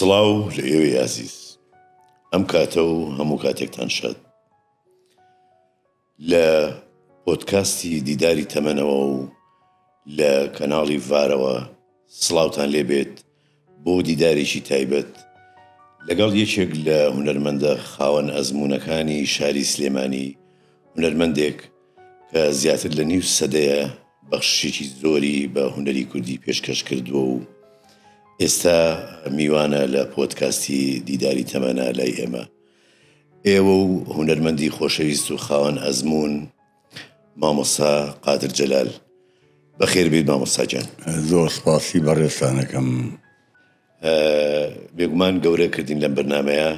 سڵاو لە ئێوەی ئازیز ئەم کاتە و هەموو کاتێکتان شاد لە پۆتکاستی دیداری تەمەنەوە و لە کەناڵی ڤارەوە سڵاوتان لێبێت بۆ دیدارێکی تایبەت لەگەڵ یەکێک لە هونەرمەندە خاوەن ئەزموونەکانی شاری سلێمانی، هونەرمەندێک کە زیاتر لە نیو سەدەیە بەخششێکی زۆری بە هونەری کوردی پێشکەش کردووە و ئێستا میوانە لە پۆدکاستی دیداری تەمەنا لای ئێمە ئێوە و هونەرمەندی خۆشەویست و خاوەن ئەزموون مامۆستا قادر جەلال بەخێر بێیت مامۆستا گیان. زۆر سپاسی بەڕێزتان ئەکەم. بێگومان گەورە کردین لەم بەرنمەیە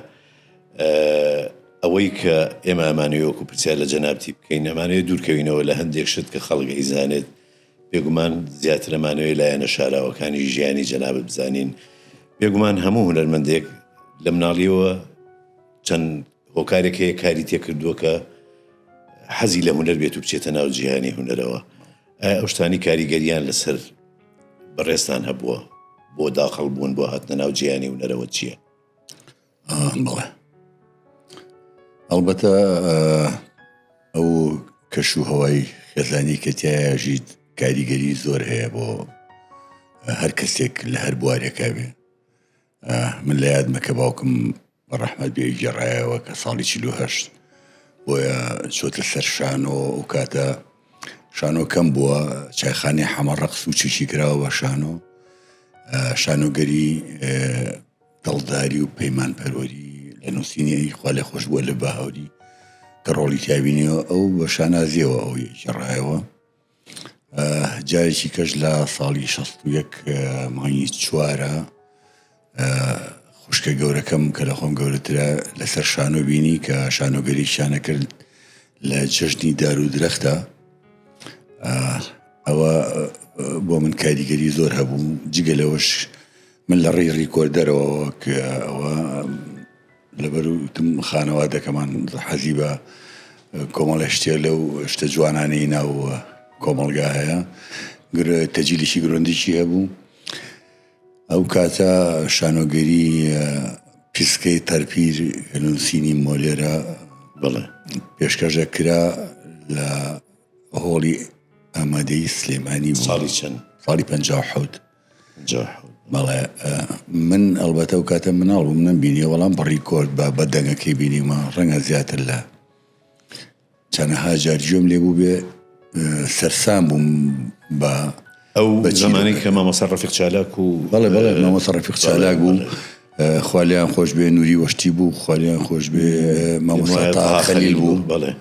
ئەوەی کە ئێمە ئەمانەوە وەکو پرسیار لە جەنابتی بکەین ئەمانەیە دوورکەوینەوە لە هەندێک شت کە خەڵک ئەیزانێت بێگومان زیاتر ئەمانەوەی لایەنە شاراوەکانی ژیانی جەنابت بزانین بێگومان هەموو هونەرمەندێک لە مناڵیەوە چەند هۆکارێک هەیە کاری تێکردووە کە حەزی لە هونەر بێت و بچێتە ناو جیهانی هونەرەوە ئەو شتانی کاریگەریان لەسەر بەڕێستان هەبووە بۆ داخڵ بوون بۆ هاتنە ناو جیهانی هونەرەوە چییە؟ بڵێ ئەڵبەتە ئەو کەش و هەوای خێزانی کە تایە ژیت کاریگەری زۆر هەیە بۆ هەر کەسێک لە هەر بوارێکا بێ من لە یادمە کە باوکم بە ڕەحمەت بێ گێڕایەوە کە ساڵی چلو هەشت بۆیە چۆتە سەر شانۆ و کاتە شانۆ کەم بووە چایخانی حەمە ڕەقس و چشی کراوە بە شانۆ شانۆگەری دڵداری و پەیمان پەروەری لە نووسینی خوا لە خۆش بووە لە بە هەوری کە ڕۆڵی تابینیەوە ئەو بە شانازیەوە ئەوی ڕایەوە جارێکی کەش لە ساڵی شەست و یەک مانگی چوارە خوشکە گەورەکەم کە لە خۆم گەورەترە لەسەر شانۆ بینی کە شانۆگەری شانە کرد لە جەژنی دار و درەختە ئەوە بۆ من کاریگەری زۆر هەبوو جگە لەوەش من لە ڕێی ڕیکۆردەرەوە کە ئەوە لەبەرو وتم خانەوادەکەمان حەزی بە کۆمەڵێ شتێ لەو شتە جوانانەی ناو کۆمەڵگا هەیە گرە تەجیلێکی گرۆندیشی هەبوو ئەو کاتە شانۆگەری پیسکەی تەرپیر نووسینی مۆلێرە بڵێ پێشکەشە کرا لە هۆڵی ئامادەی سلێمانی ساڵی چەند ساڵی پ حوت بەڵێ من ئەڵبەتە و کاتە مناڵ بووم نەم بینیە وەڵام بەڕی کۆرد بە بە دەنگەکەی بینیمە ڕەنگە زیاتر لە چەنەها جارجۆم لێ بوو بێ سەرسان بووم بە ئەو بە زمانی کە مامەسە ڕفیق چالاک و بەڵێ بەڵێ مامەسە ڕفیق چالاک بوو خالیان خۆش بێ نووری وەشتی بوو خالیان خۆش بێ مامەسە خەلیل بوو بەڵێ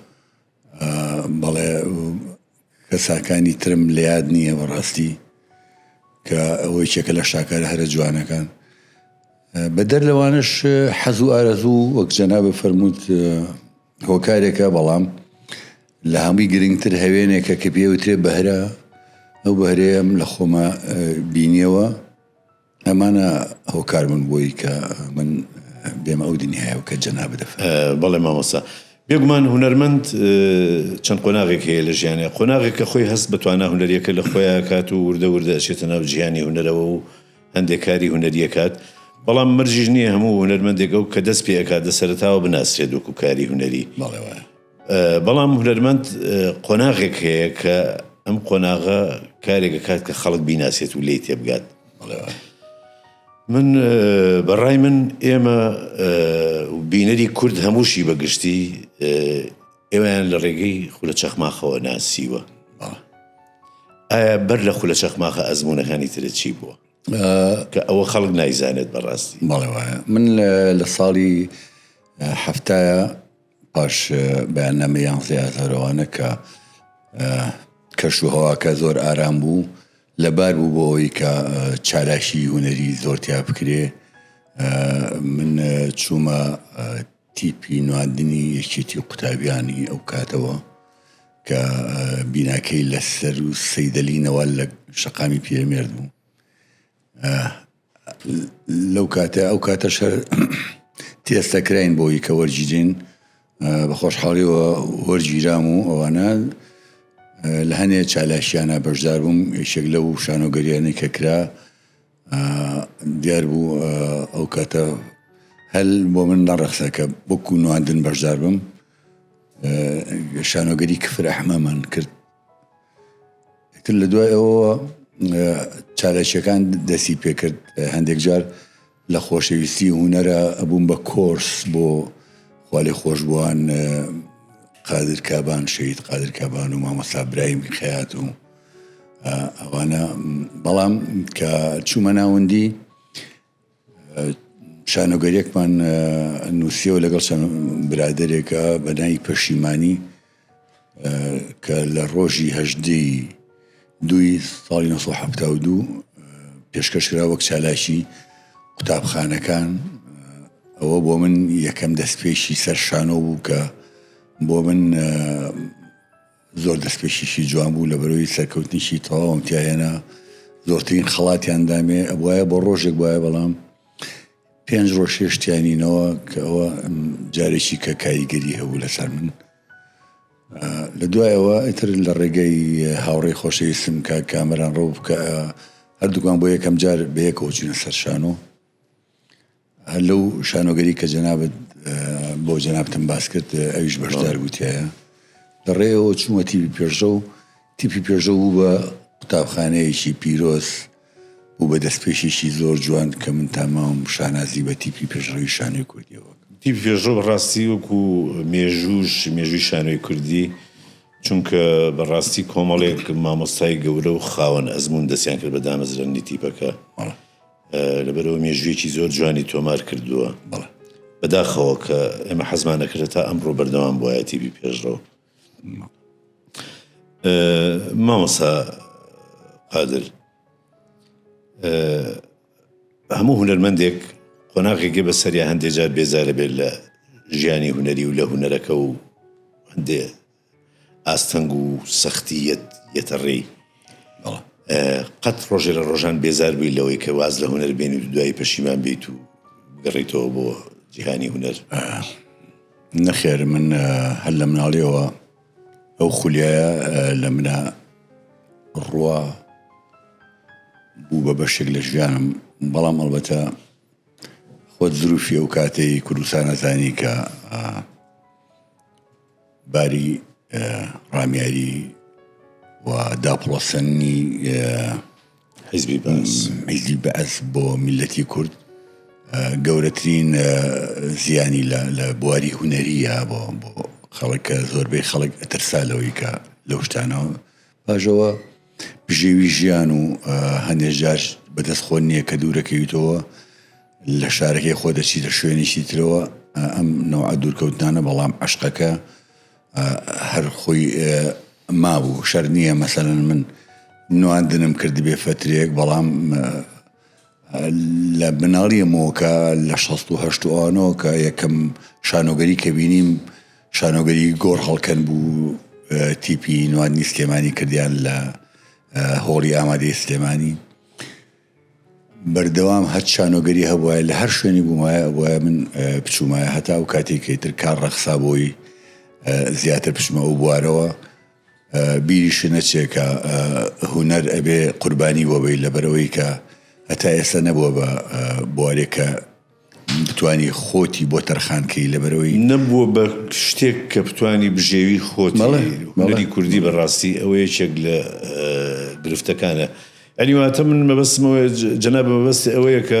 بەڵێ کەساکانی ترم لە یاد نییە بەڕاستی کە ئەوەی چێکە لە شاکارە هەرە جوانەکان بە دەر لەوانش حەز و ئارەزوو وەک جەنا بە فەرمووت هۆکارێکە بەڵام لە هەمووی گرنگتر هەوێنێکە کە پێوترێ بەهرە ئەو بەهرەیەم لە خۆمە بینیەوە ئەمانە هۆکار بوون بۆی کە من بێمە ئەو دنیایەوە کە جەنابت دەفەرموێ. بەڵێ مامۆستا. بێگومان هونەرمەند چەند قۆناغێک هەیە لە ژیانیا. قۆناغێک کە خۆی هەست بە توانا هونەرییەکە لە خۆیا ئەکات و وردە وردە ئەچێتە ناو جیهانی هونەرەوە و هەندێک کاری هونەری ئەکات. بەڵام مەرجیش نییە هەموو هونەرمەندێک ئەو کە دەست پێ ئەکات لە سەرەتاوە بناسرێت وەکوو کاری هونەری. بەڵێ وایە. بەڵام هونەرمەند قۆناغێک هەیە کە ئەم قۆناغە کارێکە کات کە خەڵک بیناسێت و لی تێبگات من بەڕای من ئێمە بینەری کورد هەمووشی بەگشتی ئێوەیان لە ڕێگەی خولە چەخماخەوە ناسیوە ئایا بەر لە خولە چەخماخە ئەزمونونەکانی ترە چی بووە کە ئەوە خەڵک نایزانێت بەڕاستی بەڵێ وایە من لە ساڵی هەفتایە پاش بەیاننامەی یانزەی ئازارو ئەوانە کە کەش و هەواکە زۆر ئارام بوو لەبار بوو بۆ ئەوەی کە چالاکی هوەری زۆرتیا بکرێ من چوومە تیپی نواندنی یەکێتی و قوتابیانی ئەو کاتەوە کە بیناکەی لەسەر و سەیدەلی نەوال لە شەقامی پیرەمێرد بوو لەو کاتە ئەو کاتە شەر تێستە کراین بۆی کە وەرگیرین بە خۆشحاڵیەوە وەرگیرام و ئەوانە لە هەنێ چالاکیانە بەشدار بووم یەکێک لەو شانۆگەریانی کە کرا دیار بوو ئەو کاتە هەل بۆ من نەڕەخسە کە بکو نواندن بەشدار بم شانۆگەری کفر ئەحمەمان کرد ئیتر لە دوای ئەوەوە چالاکیەکان دەسی پێکرد هەندێک جار لە خۆشەویستی هوەرە ئەبووم بە کۆرس بۆ خالی خۆشببووان قادرکبان شەید قادرکبان و مامەسا برایم خەات و ئەوانە بەڵام کە چوومە ناوەندی شانۆگەریەکمان نووسیەوە لەگەڵ چەند برادێکە بەنای پەشیمانی کە لە ڕۆژی هەژدەی دوی ساڵی 1970 پێشکەش کرا وەک چالاکی قوتابخانەکان ئەوە بۆ من یەکەم دەستپێکی سەر شانۆ بوو کە بۆ من زۆر دەستپێکیشی جوان بوو لە بەرەوەی سەرکەوتنیشی تەواوم تیاهێنا زۆرترین خەڵاتیان دامێ ئەبواە بۆ ڕۆژێک وایە بەڵام پێنج ڕۆژ هێشتیانینەوە کە ئەوە جارێکی کە کاریگەری هەبوو لەسەر من لە دوایەوە ئیتر لە ڕێگەی هاوڕێ خۆشەویستم کە کامەران ڕەو بکە هەردووکان بۆ یەکەم جار بەیەکەوە چینە سەرشانۆ هەر لەو شانۆگەری کە جەنابت بۆ جەنابتم باس کرد ئەویش بەشدار بووتیایە لە ڕێەوە چوومە تیبی پێشڕە و تیپی پێشە بوو بە قوتابخانەیەکی پیرۆز و بە دەستپێشێکی زۆر جوان کە من تاماوم شانازی بە تیپی پێشڕەوی شانۆی کوردیەوە تیپی پێشڕە بەڕاستی وەکو مێژووش مێژووی شانۆی کوردی چونکە بەڕاستی کۆمەڵێک مامۆستای گەورە و خاوەن ئەزمون دەستیان کرد بە دامەزرێننی تیپەکە. لەبەرئەوە مێژوویەکی زۆر جوانی تۆمار کردووە بەڵێ بەداخەوە کە ئێمە حەزمان نەکردە تا ئەمڕۆ بەردەوام بایەتی بی پێشڕەوە مامەسا قادر هەموو هونەرمەندێک قۆناغێکی بە سەریا هەندێجار بێزارە بێت لە ژیانی هونەری و لە هونەرەکە و هەندێ ئاستەنگ و سەختی یەت یەتە ڕێی. قەت ڕۆژێ لە ڕۆژان بێزار بووی لەوەی کە واز لە هونەر بێنی و دوایی پەشیمان بیت و گەڕیتەوە بۆ جیهانی هونەر؟ نەخێر من هەر لە مناڵیەوە ئەو خولیایە لە منە ڕوا بوو بە بەشێک لە ژیانم بەڵام ئەڵبەتە خۆت زروفی ئەو کاتەی کوردستانەزانی کە باری ڕامیاری و داپڵۆسەنی حزبی بەس حزبی بەس بۆ میلەتی کورد گەورەترین زیانی لە بواری هوەریە بۆ بۆ خەڵکە زۆربەی خەڵک ئەترسا لەوەی کە لەو شتانەوە پاش ئەوە بژێوی ژیان و هەندێک جار بەدەست خۆ نییە کە دوورەکەویتەوە لە شارەکەی خۆ دەچیتە شوێنێکی ترەوە ئەم نەوە دوورکەوتنانە بەڵام عشقەکە هەر خۆی مابوو شەر نییە مەسەن من نواندنم کرد بێ فترێک بەڵام لە مناڵیەمەوە کە لە شەست و هەشت و ئەوانەوە کە یەکەم شانۆگەری کە بینیم شانۆگەری گۆڕ هەڵکەن بوو تیپی نوادنی سلێمانی کردیان لە هۆڵی ئامادەی سلێمانی بەردەوام هەر شانۆگەری هەبواە لە هەر شوێنی بوومایە بۆە من بچوومایە هەتا و کاتێکیتر کار ڕەخسا بۆی زیاتر بچمە ئەو بوارەوە بیری شنەچێ کە هونەر ئەبێ قوربانی بۆ بی لەبەرەوەی کە هەتا ئێستا نەبووە بە بوارێک کە بتانی خۆتی بۆ تەرخانکەی لەبەرەوەی نەبووە بە شتێک کە بتانی بژێوی خۆتی کوردی بەڕاستی ئەوە یەکێک لە گرفتەکانە ئەنیواتە من مەبەستمەوە جەنابە مەبەستی ئەوەیە کە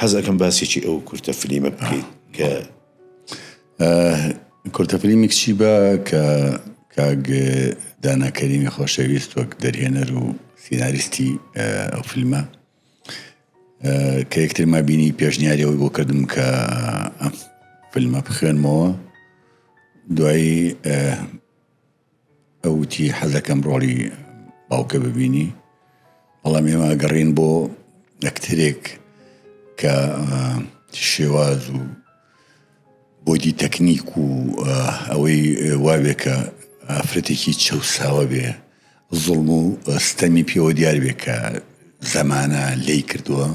حەز ئەکەم باسێکی ئەو کورتە فلیمە بکەیت کە کورتە فلیمێک چی بە کە کاگ داناکەریمی خۆشەویست وەک دەرهێنەر و سیناریستی ئەو فیلمە کە یەکترما بینی پێشنیاری ئەوی بۆ کردم کە ئەم فیلمە بخوێنمەوە دوایی ئەو وتی حەزەکەم ڕۆڵی باوکە ببینی بەڵام ئێمە ئەگەڕین بۆ ئەکتەرێک کە شێواز و بۆدی تەکنیک و ئەوەی واوێکە ئافرەتێکی چەساوە بێ زڵم و ستەمی پێوە دیار بێ کە زەمانە لی کردووە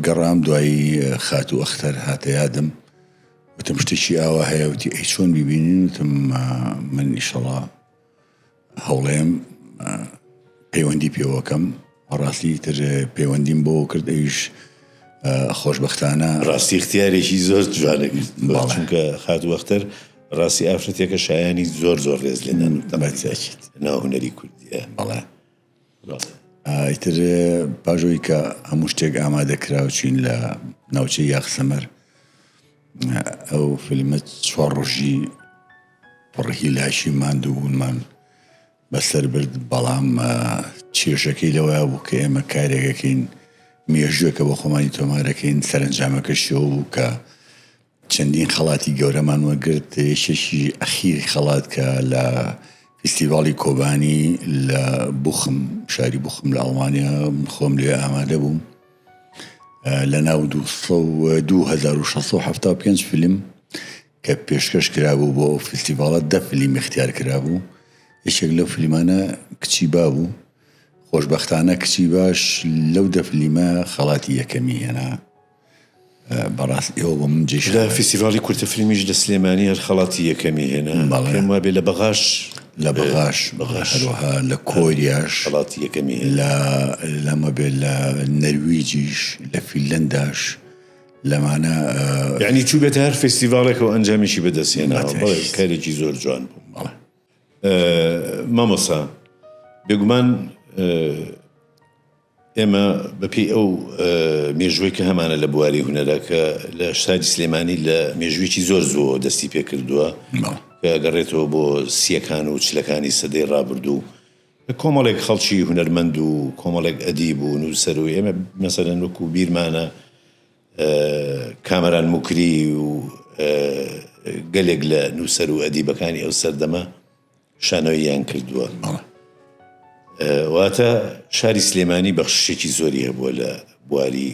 گەڕام دوایی خاتوو ئەختەر هاتە یادم وتم شتێکی ئاوا هەیە وتی ئەی چۆن ببینین وتم من ئیشەڵا هەوڵێم پەیوەندی پێوەکەم ڕاستی تر پەیوەندیم بۆ کرد ئەویش خۆشببختانە ڕاستی اختیارێکی زۆر جوانەگرت چونکە خات وەختەر ڕاستی ئافرەتێکە شایانی زۆر زۆر ڕێز لێنان دەمەچێت ناهنەری کوردیە بەڵێ ئیتر پاش ئەوی کە هەموو شتێک ئامادە کرا و چین لە ناوچەی یاخسەمەر ئەو فیلمە چوار ڕۆژی پڕهی لاشی ماندوو بوونمان بەسەر برد بەڵام چێشەکەی لەوەیە بوو کە ئێمە کارێکەکەین مێژوەکە بە خۆمانی تۆمارەکەین سەرنجامەکەشەوە بوو کە چەندین خەڵاتی گەورەمان وەرگرت، یەکێکی ئەخیری خەڵات کە لە فیستیڤاڵی کۆبانی لە بوخم شاری بوخم لە ئەڵمانیا من خۆم لێ ئامادە بووم لە ناو 2675 فیلم کە پێشکەش کرابوو بۆ فیستیڤاڵە دە فلیمی اختیار کرابوو یەکێک لەو فلیمانە کچی با بوو خۆشببختانە کچی باش لەو دەفلیمە خەڵاتی یەکەمی هێنا بەڕاست ئێوە بۆ من جێی شانازیت. لە فیستیڤاڵی کورتە فیلمیش لە سلێمانی هەر خەڵاتی یەکەمی هێنا. بەڵێ. پێم وابێ لە بەغاش. لە بەغاش. بەغاش. هەروەها لە کۆریاش. خەڵاتی یەکەمی هێنا. لە لەمە بێ لە نەرویجیش لە فیلەنداش لەمانە. یانی چووبێتە هەر فیستیڤاڵێک و ئەنجامیشی بەدەست هێناوە. بەتەئکید. بەڵێ کارێکی زۆر جوان بوو. بەڵێ. مامۆستا بێگومان ئێمە بە پێی ئەو مێژوەی کە هەمانە لە بواری هونەرە کە لە شاری سلێمانی لە مێژویەکی زۆر زووەوە دەستی پێ کردووە گەڕێتەوە بۆ سیەکان و چلەکانی سەدەی ڕابردوو کۆمەڵێک خەڵکی هونەرمەند و کۆمەڵێک ئەدی بوون و سەروی ئێمە مەسەرەن وەکو بیرمانە کامەران مکری و گەلێک لە نووسەر و ئەدیبەکانی ئەو سەردەمە شانۆییان کردووە واتە شاری سلێمانی بەخششێکی زۆری هەبووە لە بواری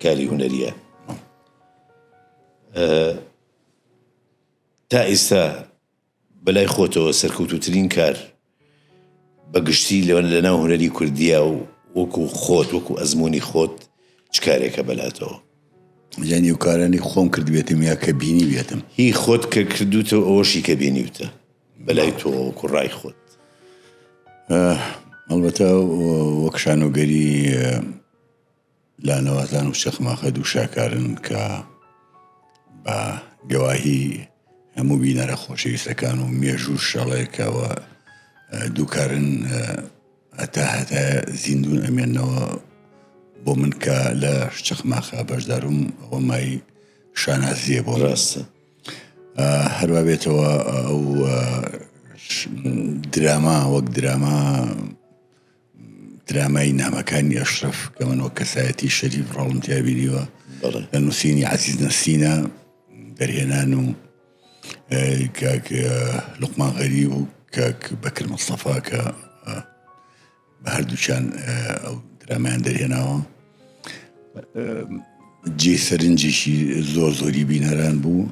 کاری هوەریە تا ئێستا بەلای خۆتەوە سەرکەوتوترین کار بە گشتی لە ناو هونەری کوردیا و وەکو خۆت وەکو ئەزمونی خۆت چ کارێکە بەلاتەوە؟ لە نێو کارانی خۆم کردبێتم یا کە بینیبێتم؟ هی خۆت کە کردوتە و ئەوەشی کە بینیوتە بەلای تۆ وەکو ڕای خۆت؟ ئەڵبەتە وەک شانۆگەری لانەوازان و چەخماخە دوو شاکارن کە بە گەواهی هەموو بینەرە خۆشەویستەکان و مێژوو شەڵێکەوە دووکارن هەتا هەتا زیندون ئەمێنەوە بۆ من کە لە چەخماخە بەشداروم ئەوە مای شانازیە بۆ ڕاستە هەروە بێتەوە ئەو دراما وەک دراما درامای نامەکانی ئەشرف کە من وە کەسایەتی شەریف ڕۆڵم تیابینیوە لە نووسینی عزیز نەسینە دەرهێنان و کاک لقمان غەریب و کاک بەکر مستەفا کە بە هەردووچان ئەو درامیان دەرهێناوە جێ سەرنجێکی زۆر زۆری بینەران بوو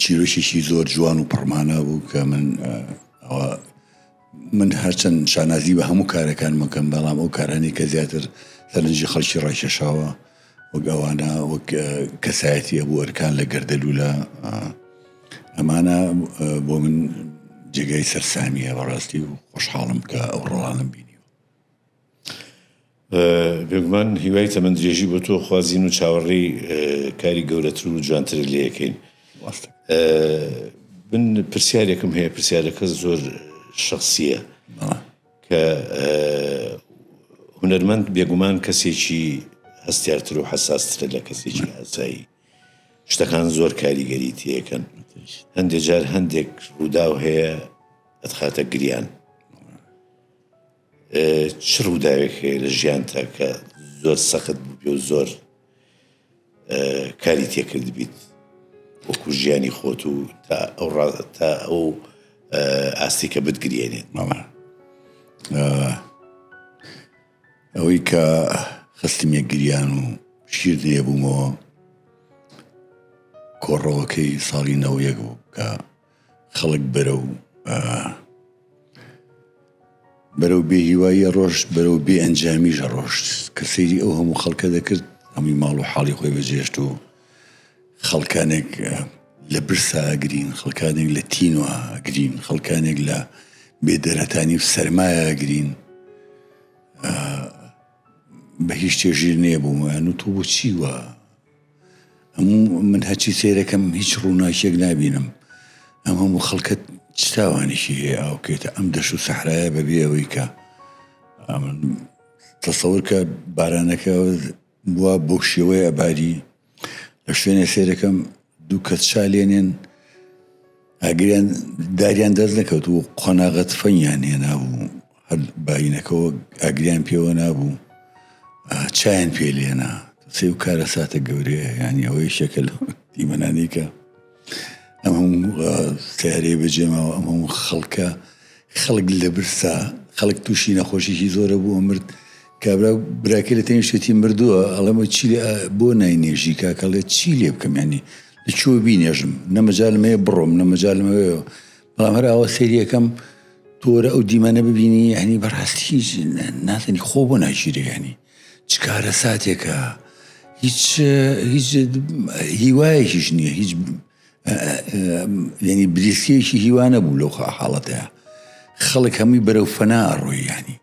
چیرۆکێکی زۆر جوان و پڕمانە بوو کە من من هەرچەند شانازی بە هەموو کارەکان مەکەم بەڵام ئەو کارانی کە زیاتر سەرنجی خەڵکی ڕایکێشاوە وەگەوانە وەک کەسایەتی ئەبوو ئەرکان لە گەردەلو لە ئەمانە بۆ من جێگای سەرسامیە بەڕاستی و خۆشحاڵم کە ئەو ڕۆڵانم بینیوە بێگومان هیوای تەمەن درێژی بۆ تۆ خوازین و چاوەڕێی کاری گەورەتر و جوانترت لێەکەین من پرسیارێکم هەیە پرسیارەکە زۆر شخصیە کە هونەرمەند بێگومان کەسێکی هەستارتر و حساسترە لە کەسێکی ئاسایی شتەکان زۆر کاریگەری تێەکەن هەندێک جار هەندێک ڕووداو هەیە ئەتخاتە گریان چ ڕووداوێک هەیە لە ژیانتا کە زۆر سەخت بووبێ و زۆر کاری تێکرد بیت وەکو ژیانی خۆت و تا ئەو تا ئەو ئاستی کە بتگرێنێت مەڵە ئەوەی کە خستمیە گریان و شیر لێ بوومەوە کۆڕەوەکەی ساڵی نەوەک بوو کە خەڵک بەرەو بەرەو بێ هیواییە ڕۆشت بەرەو بێ ئەنجامیشە ڕۆشت کە سەیری ئەو هەموو خەڵکە دەکرد ئەمی ماڵ و حاڵی خۆی بەجێشت و خەڵکانێک لە برسا ئەگرین خەڵکانێک لە تین و ئەگرین خەڵکانێک لە بێدەرەتانی و سەرمایە ئەگرین بە هیچ تێژیر نێبوومە نوتو بچی وە من هەچی سێرەکەم هیچ ڕووناکیەک نبینم ئەم هەموو خەڵکە چتاوانێکی هەیە ئاوکێتە ئەم دەش و سەحرایە بەبێ ئەوەی کە تەسەورکە بارانەکە بووە بۆ شێوەیە باری لە شوێنە سێرەکەم دوو کەس چالێنێن ئاگریان داریان دەست نەکەوت و قۆناغە تفەنگیان هێنا بوو هەر باینەکەەوە ئاگریان پێوە نابوو چایان پێ لێنا سێ و کارە ساتە گەورەیە ینی ئەوەی شەکەل دیمەنانیکە ئەم هەموو سیارەی بەجێماوە ئەم هەموو خەڵکە خەڵک لە برسا خەڵک تووشی نەخۆشیی زۆرە بووە مرد کابرا براکە لە تەنیشتێتی مردووە ئەڵێمە چی بۆ ناینێژی کاکەڵێت چی لێ بکەم ینی دەچووە بینێژم نە مەجالم هەیە بڕۆم نە مەجالم هەیە بەڵام هەر ئاوا سریەکەم تۆرە ئەو دیمەنە ببینی هەنی بەڕاستی هیچ نازنی خۆ بۆ ناگیرێنی چ کارە ساتێکە هیچ هیچ هیوایەکیش نییە هیچ ینی بریسیەکی هیوانە بوو لەو حاڵەتەیە خەڵک هەمووی بەرەو فەنا ڕۆیانی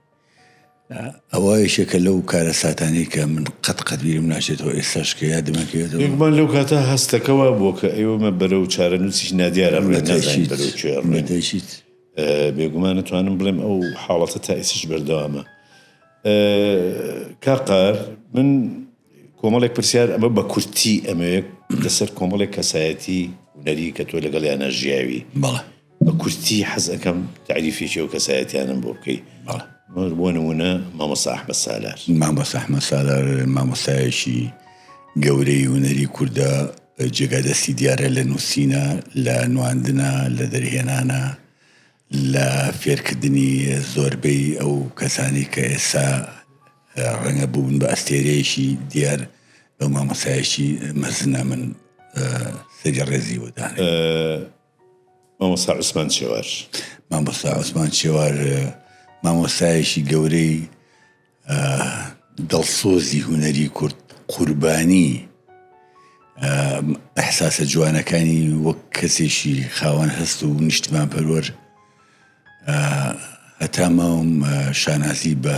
ئەوە یەکێکە لەو کارەساتانەی کە من قەت قەت بیرم ناچێتەوە ئێستاش کە یادمە کەوێتەوە. گومان لەو کاتە هەستەکە وا بووە کە ئێمە بەرەو چارەنووسیکی نادیار ئەڕۆین، نازانین بەرەو کوێ ئەڕۆین. بە تەئکید. بێگومان ئەتوانم بڵێم ئەو حاڵەتە تا ئیستیش بەردەوامە. کاک قار من کۆمەڵێک پرسیار ئەمە بە کورتی ئەمەوێت لەسەر کۆمەڵێک کەسایەتی هونەری کە تۆ لەگەڵ یانە ژیاوی بەڵێ بە کورتی حەز ئەەکەم تعریفێکی ئەو کەسایەتیانم بۆ بکەی بۆ نمونە مامۆستا ئەحمە سالار مامۆستا ئەحمە سالار مامۆستایەکی گەورەی هونەری کوردە جێگا دەستی دیارە لە نووسینە لە نواندنە لە دەرهێنانە لە فێرکردنی زۆربەی ئەو کەسانەی کە ئێستا ڕەنگە بوون بە ئەستێرەیەکی دیار بە مامۆسایەکی مەزنە من سەری ڕێزی وەدان مامۆسا عوسمان چێوار مامۆسا عوسمان چێوار مامۆسایەکی گەورەی دڵسۆزی هونەری کورد قوربانی ئەحساسە جوانەکانی وەک کەسێکی خاوەن هەست و نیشتمان پەروەر هەتا ماوم شانازی بە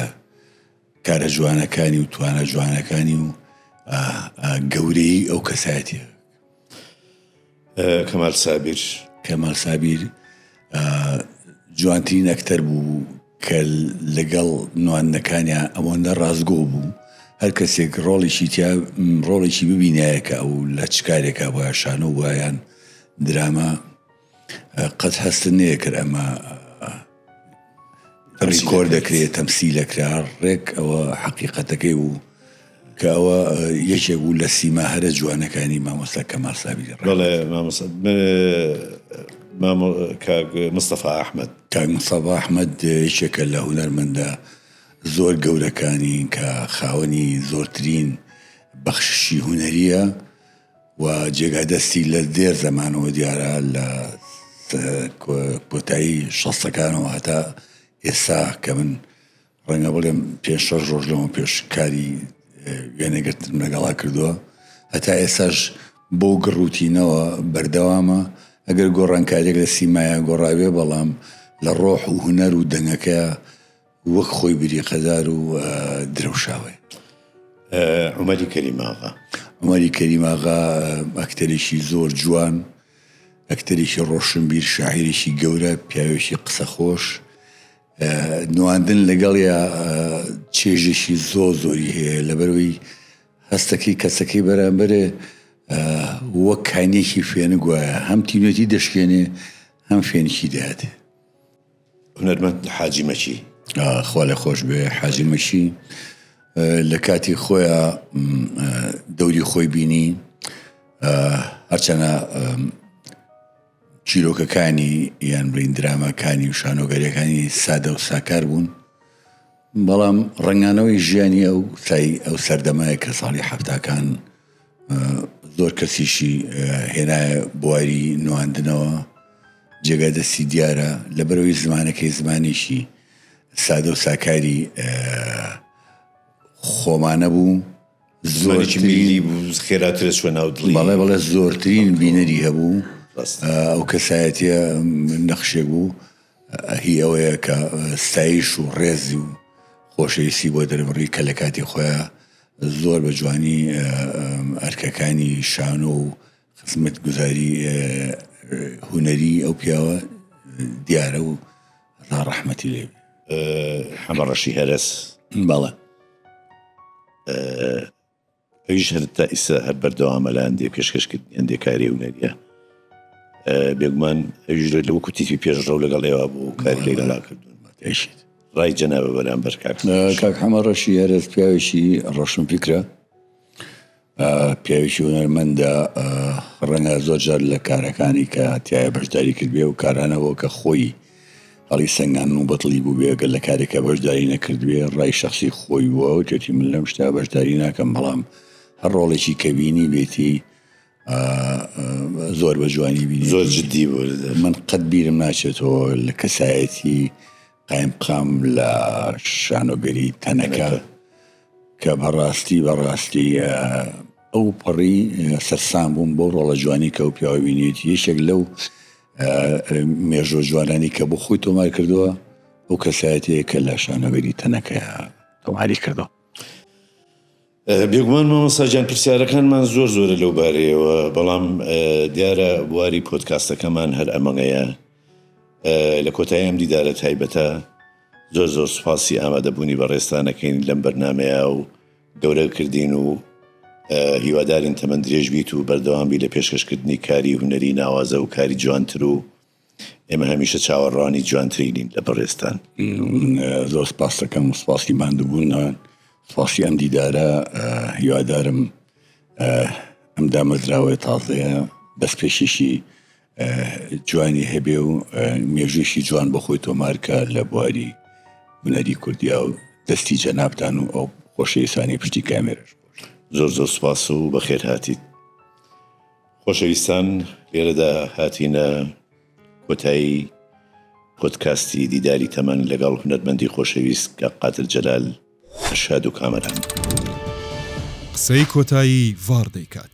کارە جوانەکانی و توانە جوانەکانی و گەورەی ئەو کەسایەتە کەمال سابیر کەمال سابیر جوانترین ئەکتەر بوو کە لەگەڵ نواندنەکانیان ئەوەندە ڕاستگۆ بوو هەر کەسێک ڕۆڵێکی تیا ڕۆڵێکی ببینایە کە ئەو لە چ کارێکا بۆە شانۆ وایان درامە قەت هەستت نەیەکرد ئەمە ڕیکۆر دەکرێت تەمسیلەکرا ڕێک ئەوە حەقیقەتەکەی بوو کە ئەوە یەکێک بوو لە سیما هەرە جوانەکانی مامۆستا کە ماسابی مستەفا ئەحمد کاک مستەفا ئەحمد یەکێکە لە هوەرمەندە زۆر گەورەکانی کە خاوەنی زۆرترین بەخششی هوەریە و جێگای دەستی لە دێر زەمانەوە دیارە لە کۆتایی شەستەکانەوە هەتا ئێستا کە من ڕەنگە بڵێم پێ شەش ڕۆژ لەمە پێش کاری وێنەگرتن لەگەڵا کردووە هەتا ئێساش بۆ گڕوتینەوە بەردەوامە ئەگەر گۆڕانکاریێک لە سیمایە گۆڕاوێ بەڵام لە ڕۆح و هوەر و دەنگەکە وەک خۆی بریقەدار و درەوشاوەی. عومەری کەریم ئاغا. عومەری کەریم ئاغا ئەکتەرێکی زۆر جوان، ئەکتەرێکی ڕۆشنبیر، شاعیرێکی گەورە، پیاوێکی قسەخۆش، نواندن لەگەڵیا چێژێکی زۆ زۆری هەیە لەبەرەوەی هەستەکەی کەسەکەی بەرامبەرێ وەک کانیەکی فێنک وایە هەم تینوێتی دەشکێنێ هەم فێنکی دەهاتێ. هونەرمەند حاجی مەکی خوا لە خۆش بێ حاجی مەکی لە کاتی خۆیان دەوری خۆی بینی هەرچەنە چیرۆکەکانی یان برین درامەکانی و شانۆگەریەکانی سادە و ساکار بوون بەڵام ڕنگانەوەی ژیانی ئەو سای ئەو سەردەمایە کە ساڵی حفتاکان زۆر کەسیشی هێنایە بواری نواندنەوە جێگا دەستی دیارە لە بەرەوەی زمانەکەی زمانیشی سادە و ساکاری خۆمانە بوو زۆر خێراترە شوە ناو بەڵێ بەڵێ زۆرترین بینەری هەبوو ئەو کەسایەتە نەخشێ بوو هی ئەوەیە کە ستایش و ڕێزی و خۆشەویستی بۆ دەربڕی کە لە کاتی خۆیان زۆر بە جوانی ئەرکەکانی شانۆ و خزمەتگوزاری هونەری ئەو پیاوە دیارە و ڕا ڕەحمەتی لێ حەمە ڕەشی هەرس باڵە ئەویش هەر تا ئیسا هەر بەردەوامە لە هەندێک پێشکەشکردنی هەندێک کاری هونەریە بێگومان ئەویش لە وەکو تیفی پێشڕەو لەگەڵ ئێوە بوو کاری لەگەڵا کردوون ماتێشیت ڕای جەنابە بەرامبەر کاک سروش. کاک حەمە ڕەشی هەرەس پیاوێکی ڕەشنفیکرە پیاوێکی هونەرمەندە ڕەنگە زۆر جار لە کارەکانی کە تایە بەشداری کردبێ و کارانەوە کە خۆی هەڵی سەنگان و بەتڵی بوو بێگەر لە کارێکە بەشداری نەکردبێ ڕای شخصی خۆی بووە و تێتی من لەم شتا بەشداری ناکەم بەڵام هەر ڕۆڵێکی کەبینی بێتی زۆر بە جوانی بینی زۆر جددی بوو من قەت بیرم ناچێتەوە لە کەسایەتی قایم قام لە شانۆگەری تەنەکە کە بەڕاستی بەڕاستی ئەو پەڕی سەرسان بووم بۆ ڕۆڵە جوانی کە و پیاوینێت یەکێک لەو مێژۆ جوانانی کە بۆ خۆی تۆمار کردووە ئەو کەسایەتەیە کە لە شانەوەری تەنەکەیە تۆماری کردەوە. بێگومان مامۆستا گیان پرسیارەکانمان زۆر زۆرە لەو بارەیەوە بەڵام دیارە بواری پۆدکاستەکەمان هەر ئەمەگەیە لە کۆتایی ئەم دیدارە تایبەتە زۆر زۆر سوپاسی ئامادەبوونی بەڕێستانەکەین لەم بەرنمەیە و گەورە کردین و هیوادارین تەمەندرێژ بیت و بەردەوامبی لە پێشکەشکردنی کاری هوەری ناوازە و کاری جوانتر و ئێمە هەمیشە چاوەڕوانی جوانترینین لە بەڕێزتان. زۆر سپاستەکەم سپاسی ماندوبوونان سپاسی ئەم دیدارە هیوادارم ئەم دامەزراوەیە تازەیە بەس پێشیشی جوانی هەبێ و مێژووشی جوان بە خۆی تۆمارکە لە بواری هونەری کوردیا و دەستی جەنابان و ئەو خۆشەویستانی پشتی کامێرش زۆر زۆر سپاس و بەخێر هاتیت خۆشەویستان لێرەدا هاتینە کۆتایی پۆدکاستی دیداری تەمەن لەگەڵ هونەرمەندی خۆشەویست کاک قادر جەلال ئەرشاد و کامەران. قسەی کۆتایی ڤاڕ دەیکات.